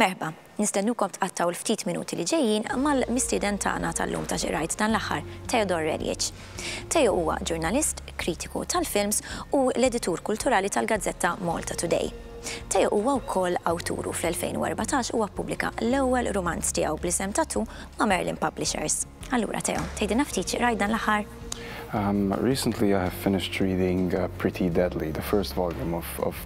Merħba, nistennukom tqattaw l-ftit minuti li ġejjin mal-mistieden tagħna tal-lum ta' xi qrajt dan l-aħħar, Theodore Reljic. Teo huwa ġurnalist, kritiku tal-films u l-editur kulturali tal-gazzetta Malta Today. Teo huwa wkoll awtur u fl-2014 huwa ppubblika l-ewwel rumanz tiegħu bl-isem Tattoo ma' Merlin Publishers. Allura Teo, tgħidilna ftit xi qrajt dan l-aħħar? Recently I have finished reading Pretty Deadly, the first volume of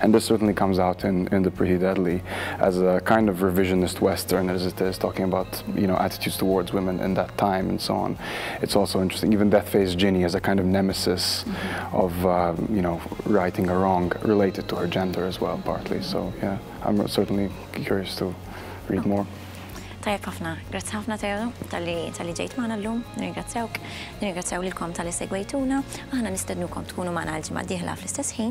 And this certainly comes out in in the Prehi Deadly as a kind of revisionist western as it is talking about you know attitudes towards women in that time and so on. It's also interesting even Death Face Ginny as a kind of nemesis of uh, you know righting a wrong related to her gender as well partly. So yeah, I'm certainly curious to read more. Tajab ħafna, grazzi ħafna Teo tal-li tal-li ġejt maħna l-lum, nirringrazzjawk, nirringrazzjaw l-kom tal-li segwejtuna, aħna nistednukom tkunu maħna l-ġimma diħla fl-istess ħin,